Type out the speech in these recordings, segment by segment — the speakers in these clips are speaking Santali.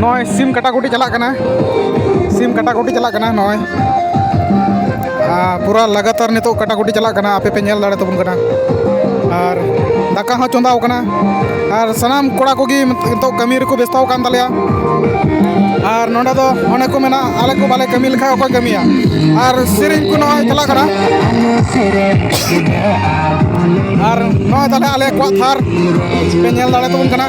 ᱱᱚᱜᱼᱚᱭ ᱥᱤᱢ ᱠᱟᱴᱟᱠᱩᱴᱤ ᱪᱟᱞᱟᱜ ᱠᱟᱱᱟ ᱥᱤᱢ ᱠᱟᱴᱟᱠᱩᱴᱤ ᱪᱟᱞᱟᱜ ᱠᱟᱱᱟ ᱱᱚᱜᱼᱚᱭ ᱯᱩᱨᱟ ᱞᱟᱜᱟᱛᱟᱨ ᱱᱤᱛᱚᱜ ᱠᱟᱴᱟᱠᱩᱴᱤ ᱪᱟᱞᱟᱜ ᱠᱟᱱᱟ ᱟᱯᱮ ᱯᱮ ᱧᱮᱞ ᱫᱟᱲᱮ ᱛᱟᱵᱚᱱ ᱠᱟᱱᱟ ᱟᱨ ᱫᱟᱠᱟ ᱦᱚᱸ ᱪᱚᱸᱫᱟᱣ ᱠᱟᱱᱟ ᱟᱨ ᱥᱟᱱᱟᱢ ᱠᱚᱲᱟ ᱠᱚᱜᱮ ᱱᱤᱛᱚᱜ ᱠᱟᱹᱢᱤ ᱨᱮᱠᱚ ᱵᱮᱥᱛᱚ ᱟᱠᱟᱱ ᱛᱟᱞᱮᱭᱟ ᱟᱨ ᱱᱚᱰᱮ ᱫᱚ ᱚᱱᱮ ᱠᱚ ᱢᱮᱱᱟ ᱟᱞᱮ ᱠᱚ ᱵᱟᱞᱮ ᱠᱟᱹᱢᱤ ᱞᱮᱠᱷᱟᱱ ᱚᱠᱚᱭ ᱠᱟᱹᱢᱤᱭᱟ ᱟᱨ ᱥᱮᱨᱮᱧ ᱠᱚ ᱱᱚᱜᱼᱚᱭ ᱪᱟᱞᱟᱜ ᱠᱟᱱᱟ ᱟᱨ ᱱᱚᱜᱼᱚᱭ ᱛᱟᱦᱞᱮ ᱟᱞᱮ ᱠᱚᱣᱟᱜ ᱛᱷᱟᱨ ᱯᱮ ᱧᱮᱞ ᱫᱟᱲᱮ ᱛᱟᱵᱚᱱ ᱠᱟᱱᱟ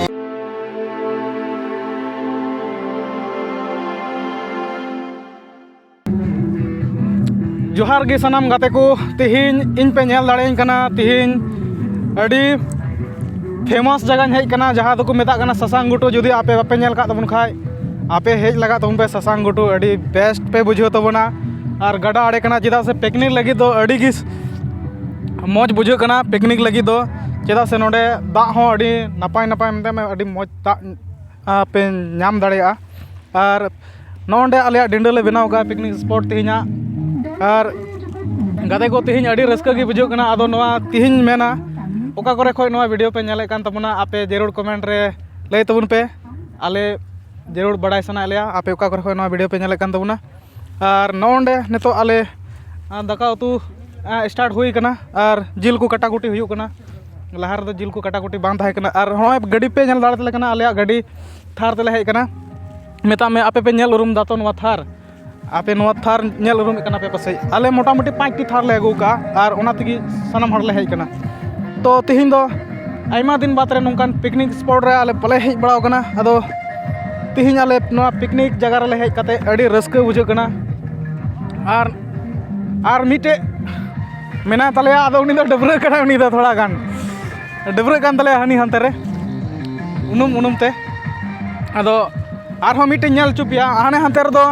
ᱡᱚᱦᱟᱨ ᱜᱮ ᱥᱟᱱᱟᱢ ᱜᱟᱛᱮ ᱠᱚ ᱛᱮᱦᱮᱧ ᱤᱧ ᱯᱮ ᱧᱮᱞ ᱫᱟᱲᱮᱭᱟᱹᱧ ᱠᱟᱱᱟ ᱛᱮᱦᱮᱧ ᱟᱹᱰᱤ ᱯᱷᱮᱢᱟᱥ ᱡᱟᱭᱜᱟᱧ ᱦᱮᱡ ᱠᱟᱱᱟ ᱡᱟᱦᱟᱸ ᱫᱚᱠᱚ ᱢᱮᱛᱟᱜ ᱠᱟᱱᱟ ᱥᱟᱥᱟᱝ ᱜᱷᱩᱴᱩ ᱡᱩᱫᱤ ᱟᱯᱮ ᱵᱟᱯᱮ ᱧᱮᱞ ᱠᱟᱜ ᱛᱟᱵᱚᱱ ᱠᱷᱟᱡ ᱟᱯᱮ ᱦᱮᱡ ᱞᱟᱜᱟᱜ ᱛᱟᱵᱚᱱ ᱯᱮ ᱥᱟᱥᱟᱝ ᱜᱷᱩᱴᱩ ᱟᱹᱰᱤ ᱵᱮᱥᱴ ᱯᱮ ᱵᱩᱡᱷᱟᱹᱣ ᱛᱟᱵᱚᱱᱟ ᱟᱨ ᱜᱟᱰᱟ ᱟᱲᱮ ᱠᱟᱱᱟ ᱪᱮᱫᱟᱜ ᱥᱮ ᱯᱤᱠᱱᱤᱠ ᱞᱟᱹᱜᱤᱫ ᱫᱚ ᱟᱹᱰᱤ ᱜᱮ ᱢᱚᱡᱽ ᱵᱩᱡᱷᱟᱹᱜ ᱠᱟᱱᱟ ᱯᱤᱠᱱᱤᱠ ᱞᱟᱹᱜᱤᱫ ᱫᱚ ᱪᱮᱫᱟᱜ ᱥᱮ ᱱᱚᱰᱮ ᱫᱟᱜ ᱦᱚᱸ ᱟᱹᱰᱤ ᱱᱟᱯᱟᱭ ᱱᱟᱯᱟᱭ ᱢᱮᱛᱟᱜ ᱢᱮ ᱟᱹᱰᱤ ᱢᱚᱡᱽ ᱫᱟᱜ ᱯᱮ ᱧᱟᱢ ᱫᱟᱲᱮᱭᱟᱜᱼᱟ ᱟᱨ ᱱᱚᱜᱼᱚᱸᱭ ᱱᱚᱰᱮ ᱟᱞᱮᱭᱟᱜ ᱰᱤᱰᱟᱹ ᱞᱮ ᱵᱮᱱᱟᱣ ᱠᱟᱜᱼᱟ ᱯᱤᱠᱱᱤᱠ ᱥᱯᱚᱴ ᱛᱮᱦᱮᱧᱟᱜ ᱟᱨ ᱜᱟᱛᱮ ᱠᱚ ᱛᱮᱦᱮᱧ ᱟᱹᱰᱤ ᱨᱟᱹᱥᱠᱟᱹ ᱜᱮ ᱵᱩᱡᱷᱟᱹᱜ ᱠᱟᱱᱟ ᱟᱫᱚ ᱱᱚᱣᱟ ᱛᱮᱦᱮᱧ ᱢᱮᱱᱟ ᱚᱠᱟ ᱠᱚᱨᱮ ᱠᱷᱚᱡ ᱱᱚᱣᱟ ᱵᱷᱤᱰᱭᱳ ᱯᱮ ᱧᱮᱞᱮᱫ ᱠᱟᱱ ᱛᱟᱵᱚᱱᱟ ᱟᱯᱮ ᱡᱟᱹᱨᱩᱲ ᱠᱚᱢᱮᱱᱴ ᱨᱮ ᱞᱟᱹᱭ ᱛᱟᱵᱚᱱ ᱯᱮ ᱟᱞᱮ ᱡᱟᱹᱨᱩᱲ ᱵᱟᱲᱟᱭ ᱥᱟᱱᱟᱭᱮᱫ ᱞᱮᱭᱟ ᱟᱯᱮ ᱚᱠᱟ ᱠᱚᱨᱮ ᱠᱷᱚᱡ ᱱᱚᱣᱟ ᱵᱷᱤᱰᱭᱳ ᱯᱮ ᱧᱮᱞᱮᱫ ᱠᱟᱱ ᱛᱟᱵᱚᱱᱟ ᱟᱨ ᱱᱚᱜᱼᱚ ᱱᱚᱰᱮ ᱱᱤᱛᱚᱜ ᱟᱞᱮ ᱫᱟᱠᱟ ᱩᱛᱩ ᱥᱴᱟᱨᱴ ᱦᱩᱭ ᱠᱟᱱᱟ ᱟᱨ ᱡᱤᱞ ᱠᱚ ᱠᱟᱴᱟᱠᱩᱴᱤ ᱦᱩᱭᱩᱜ ᱠᱟᱱᱟ ᱞᱟᱦᱟ ᱨᱮᱫᱚ ᱡᱤᱞ ᱠᱚ ᱠᱟᱴᱟᱠᱩᱴᱤ ᱵᱟᱝ ᱛᱟᱦᱮᱸ ᱠᱟᱱᱟ ᱟᱨ ᱦᱚᱸᱜᱼᱚᱭ ᱜᱟᱹᱰᱤ ᱯᱮ ᱧᱮᱞ ᱫᱟᱲᱮᱭᱟᱞᱮ ᱠᱟᱱᱟ ᱟᱞᱮᱭᱟᱜ ᱜᱟᱹᱰᱤ ᱛᱷᱟᱨ ᱛᱮᱞᱮ ᱦᱮᱡ ᱠᱟᱱᱟ ᱢᱮᱛᱟᱜ ᱢᱮ ᱟᱯᱮ ᱯᱮ ᱧᱮᱞ ᱩᱨᱩᱢ ᱫᱟᱛᱚ ᱱᱚᱣᱟ ᱛᱷᱟᱨ ᱟᱯᱮ ᱱᱚᱣᱟ ᱛᱷᱟᱨ ᱧᱮᱞ ᱩᱨᱩᱢᱮᱫ ᱠᱟᱱᱟ ᱯᱮ ᱯᱟᱥᱮᱡ ᱟᱞᱮ ᱢᱚᱴᱟᱢᱩᱴᱤ ᱯᱟᱸᱪᱴᱤ ᱛᱷᱟᱨ ᱞᱮ ᱟᱹᱜᱩ ᱠᱟᱜᱼᱟ ᱟᱨ ᱚᱱᱟ ᱛᱮᱜᱮ ᱥᱟᱱᱟᱢ ᱦᱚᱲᱞᱮ ᱦᱮᱡ ᱠᱟᱱᱟ ᱛᱚ ᱛᱮᱦᱮᱧ ᱫᱚ ᱟᱭᱢᱟ ᱫᱤᱱ ᱵᱟᱫᱽ ᱨᱮ ᱱᱚᱝᱠᱟᱱ ᱯᱤᱠᱱᱤᱠ ᱥᱯᱚᱴ ᱨᱮ ᱟᱞᱮ ᱵᱟᱞᱮ ᱦᱮᱡ ᱵᱟᱲᱟᱣ ᱠᱟᱱᱟ ᱟᱫᱚ ᱛᱮᱦᱮᱧ ᱟᱞᱮ ᱱᱚᱣᱟ ᱯᱤᱠᱱᱤᱠ ᱡᱟᱭᱜᱟ ᱨᱮᱞᱮ ᱦᱮᱡ ᱠᱟᱛᱮᱫ ᱟᱹᱰᱤ ᱨᱟᱹᱥᱠᱟᱹ ᱵᱩᱡᱷᱟᱹᱜ ᱠᱟᱱᱟ ᱟᱨ ᱟᱨ ᱢᱤᱫᱴᱮᱡ ᱢᱮᱱᱟᱭ ᱛᱟᱞᱮᱭᱟ ᱟᱫᱚ ᱩᱱᱤ ᱫᱚ ᱰᱟᱹᱵᱽᱨᱟᱹᱜ ᱠᱟᱱᱟᱭ ᱩᱱᱤ ᱫᱚ ᱛᱷᱚᱲᱟ ᱜᱟᱱ ᱰᱟᱹᱵᱽᱨᱟᱹᱜ ᱠᱟᱱ ᱛᱟᱞᱮᱭᱟᱭ ᱦᱟᱹᱱᱤ ᱦᱟᱱᱛᱮ ᱨᱮ ᱩᱱᱩᱢ ᱩᱱᱩᱢ ᱛᱮ ᱟᱫᱚ ᱟᱨᱦᱚᱸ ᱢᱤᱫᱴᱮᱡ ᱧᱮᱞ ᱦᱚᱪᱚ ᱯᱮᱭᱟ ᱦᱟᱱᱮ ᱦᱟᱱᱛᱮ ᱨᱮᱫᱚ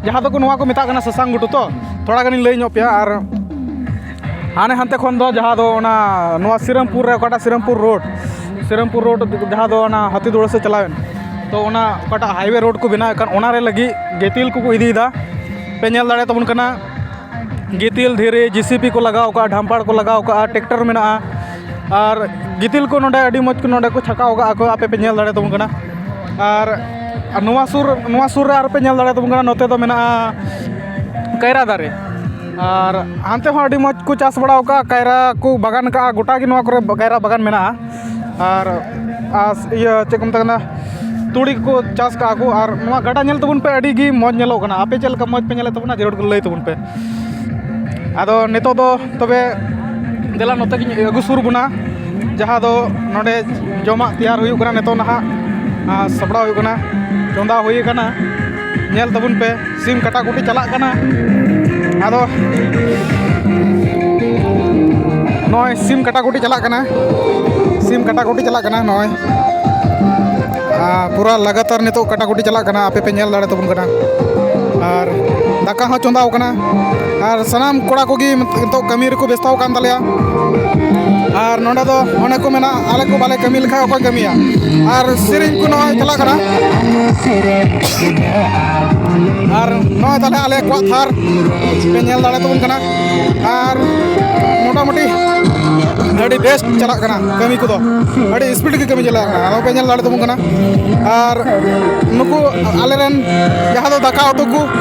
ᱡᱟᱦᱟᱸ ᱫᱚᱠᱚ ᱱᱚᱣᱟ ᱠᱚ ᱢᱮᱛᱟᱜ ᱠᱟᱱᱟ ᱥᱟᱥᱟᱝ ᱜᱷᱩᱴᱩ ᱛᱚ ᱛᱷᱚᱲᱟ ᱜᱟᱱᱤᱧ ᱞᱟᱹᱭ ᱧᱚᱜ ᱯᱮᱭᱟ ᱟᱨ ᱦᱟᱱᱮ ᱦᱟᱱᱛᱮ ᱠᱷᱚᱱ ᱫᱚ ᱡᱟᱦᱟᱸ ᱫᱚ ᱚᱱᱟ ᱱᱚᱣᱟ ᱥᱤᱨᱟᱹᱢᱯᱩᱨ ᱨᱮ ᱚᱠᱟᱴᱟᱜ ᱥᱤᱨᱟᱹᱢᱯᱩᱨ ᱨᱳᱰ ᱥᱤᱨᱟᱹᱢᱯᱩᱨ ᱨᱳᱰ ᱡᱟᱦᱟᱸ ᱫᱚ ᱚᱱᱟ ᱦᱟᱹᱛᱤ ᱫᱩᱲᱟᱹ ᱥᱮᱫ ᱪᱟᱞᱟᱣᱮᱱ ᱛᱚ ᱚᱱᱟ ᱚᱠᱟᱴᱟᱜ ᱦᱟᱭᱣᱮ ᱨᱳᱰ ᱠᱚ ᱵᱮᱱᱟᱣᱮᱫ ᱠᱟᱱ ᱚᱱᱟᱨᱮ ᱞᱟᱹᱜᱤᱫ ᱜᱤᱛᱤᱞ ᱠᱚᱠᱚ ᱤᱫᱤᱭᱮᱫᱟ ᱯᱮ ᱧᱮᱞ ᱫᱟᱲᱮᱭᱟ ᱛᱟᱵᱚᱱ ᱠᱟᱱᱟ ᱜᱤᱛᱤᱞ ᱫᱷᱤᱨᱤ ᱡᱮ ᱥᱤ ᱯᱤ ᱠᱚ ᱞᱟᱜᱟᱣ ᱠᱟᱜᱼᱟ ᱰᱷᱟᱢᱯᱟᱲ ᱠᱚ ᱞᱟᱜᱟᱣ ᱠᱟᱜᱼᱟ ᱴᱮᱠᱴᱟᱨ ᱢᱮᱱᱟᱜᱼᱟ ᱟᱨ ᱜᱤᱛᱤᱞ ᱠᱚ ᱱᱚᱰᱮ ᱟᱹᱰᱤ ᱢᱚᱡᱽ ᱠᱚ ᱱᱚᱰᱮ ᱠᱚ ᱪᱷᱟᱠᱟᱣ ᱠᱟᱜᱼᱟ ᱠᱚ ᱟᱯᱮ ᱯᱮ ᱧᱮᱞ ᱫᱟᱲᱮᱭᱟ ᱛᱟᱵᱚᱱ ᱠᱟᱱᱟ ᱟᱨ ᱱᱚᱣᱟ ᱥᱩᱨ ᱱᱚᱣᱟ ᱥᱩᱨ ᱨᱮ ᱟᱨᱚ ᱯᱮ ᱧᱮᱞ ᱫᱟᱲᱮᱭᱟ ᱛᱟᱵᱚᱱ ᱠᱟᱱᱟ ᱱᱚᱛᱮ ᱫᱚ ᱢᱮᱱᱟᱜᱼᱟ ᱠᱟᱭᱨᱟ ᱫᱟᱨᱮ ᱟᱨ ᱦᱟᱱᱛᱮ ᱦᱚᱸ ᱟᱹᱰᱤ ᱢᱚᱡᱽ ᱠᱚ ᱪᱟᱥ ᱵᱟᱲᱟᱣ ᱠᱟᱜᱼᱟ ᱠᱟᱭᱨᱟ ᱠᱚ ᱵᱟᱜᱟᱱ ᱠᱟᱜᱼᱟ ᱜᱚᱴᱟ ᱜᱮ ᱱᱚᱣᱟ ᱠᱚᱨᱮ ᱠᱟᱭᱨᱟ ᱵᱟᱜᱟᱱ ᱢᱮᱱᱟᱜᱼᱟ ᱟᱨ ᱟᱨ ᱤᱭᱟᱹ ᱪᱮᱫ ᱠᱚ ᱢᱮᱛᱟᱜ ᱠᱟᱱᱟ ᱛᱩᱲᱤ ᱠᱚᱠᱚ ᱪᱟᱥ ᱠᱟᱜᱼᱟ ᱠᱚ ᱟᱨ ᱱᱚᱣᱟ ᱜᱟᱰᱟ ᱧᱮᱞ ᱛᱟᱵᱚᱱ ᱯᱮ ᱟᱹᱰᱤ ᱜᱮ ᱢᱚᱡᱽ ᱧᱮᱞᱚᱜ ᱠᱟᱱᱟ ᱟᱯᱮ ᱪᱮᱫ ᱞᱮᱠᱟ ᱢᱚᱡᱽ ᱯᱮ ᱧᱮᱞᱮᱫ ᱛᱟᱵᱚᱱᱟ ᱡᱟᱹᱨᱩᱲ ᱜᱮ ᱞᱟᱹᱭ ᱛᱟᱵᱚᱱ ᱯᱮ ᱟᱫᱚ ᱱᱤᱛᱚᱜ ᱫᱚ ᱛᱚᱵᱮ ᱫᱮᱞᱟ ᱱᱚᱛᱮ ᱜᱮᱧ ᱟᱹᱜᱩ ᱥᱩᱨ ᱵᱚᱱᱟ ᱡᱟᱦᱟᱸ ᱫᱚ ᱱᱚᱰᱮ ᱡᱚᱢᱟᱜ ᱛᱮᱭᱟᱨ ᱦᱩᱭᱩᱜ ᱠᱟᱱᱟ ᱱᱤᱛᱚᱜ ᱱᱟᱦᱟᱜ ᱥᱟᱯᱲᱟᱣ ᱦᱩᱭᱩᱜ ᱠᱟᱱᱟ ᱪᱚᱸᱫᱟ ᱦᱩᱭ ᱠᱟᱱᱟ ᱧᱮᱞ ᱛᱟᱵᱚᱱ ᱯᱮ ᱥᱤᱢ ᱠᱟᱴᱟᱠᱩᱴᱤ ᱪᱟᱞᱟᱜ ᱠᱟᱱᱟ ᱟᱫᱚ ᱱᱚᱜᱼᱚᱭ ᱥᱤᱢ ᱠᱟᱴᱟᱠᱩᱴᱤ ᱪᱟᱞᱟᱜ ᱠᱟᱱᱟ ᱥᱤᱢ ᱠᱟᱴᱟᱠᱩᱴᱤ ᱪᱟᱞᱟᱜ ᱠᱟᱱᱟ ᱱᱚᱜᱼᱚᱭ ᱯᱩᱨᱟ ᱞᱟᱜᱟᱛᱟᱨ ᱱᱤᱛᱚᱜ ᱠᱟᱴᱟᱠᱩᱴᱤ ᱪᱟᱞᱟᱜ ᱠᱟᱱᱟ ᱟᱯᱮ ᱯᱮ ᱧᱮᱞ ᱫᱟᱲᱮ ᱛᱟᱵᱚᱱ ᱠᱟᱱᱟ ᱟᱨ ᱫᱟᱠᱟ ᱦᱚᱸ ᱪᱚᱸᱫᱟᱣ ᱠᱟᱱᱟ ᱟᱨ ᱥᱟᱱᱟᱢ ᱠᱚᱲᱟ ᱠᱚᱜᱮ ᱱᱤᱛᱚᱜ ᱠᱟᱹᱢᱤ ᱨᱮᱠᱚ ᱵᱮᱥᱛᱚ ᱟᱠᱟᱱ ᱛᱟᱞᱮᱭᱟ ᱟᱨ ᱱᱚᱰᱮ ᱫᱚ ᱚᱱᱮ ᱠᱚ ᱢᱮᱱᱟ ᱟᱞᱮ ᱠᱚ ᱵᱟᱞᱮ ᱠᱟᱹᱢᱤ ᱞᱮᱠᱷᱟᱱ ᱚᱠᱚᱭ ᱠᱟᱹᱢᱤᱭᱟ ᱟᱨ ᱥᱮᱨᱮᱧ ᱠᱚ ᱱᱚᱜᱼᱚᱭ ᱪᱟᱞᱟᱜ ᱠᱟᱱᱟ ᱟᱨ ᱱᱚᱜᱼᱚᱭ ᱛᱟᱦᱞᱮ ᱟᱞᱮ ᱠᱚᱣᱟᱜ ᱛᱷᱟᱨ ᱯᱮ ᱧᱮᱞ ᱫᱟᱲᱮ ᱛᱟᱵᱚᱱ ᱠᱟᱱᱟ ᱟᱨ ᱢᱚᱴᱟᱢᱩᱴᱤ ᱟᱹᱰᱤ ᱵᱮᱥ ᱪᱟᱞᱟᱜ ᱠᱟᱱᱟ ᱠᱟᱹᱢᱤ ᱠᱚᱫᱚ ᱟᱹᱰᱤ ᱥᱯᱤᱰ ᱜᱮ ᱠᱟᱹᱢᱤ ᱪᱟᱞᱟᱜ ᱠᱟᱱᱟ ᱟᱫᱚ ᱯᱮ ᱧᱮᱞ ᱫᱟᱲᱮ ᱛᱟᱵᱚᱱ ᱠᱟᱱᱟ ᱟᱨ ᱱᱩᱠᱩ ᱟᱞᱮ ᱨᱮᱱ ᱡᱟᱦᱟᱸ ᱫᱚ ᱫᱟᱠᱟ ᱩᱛᱩ ᱠᱚ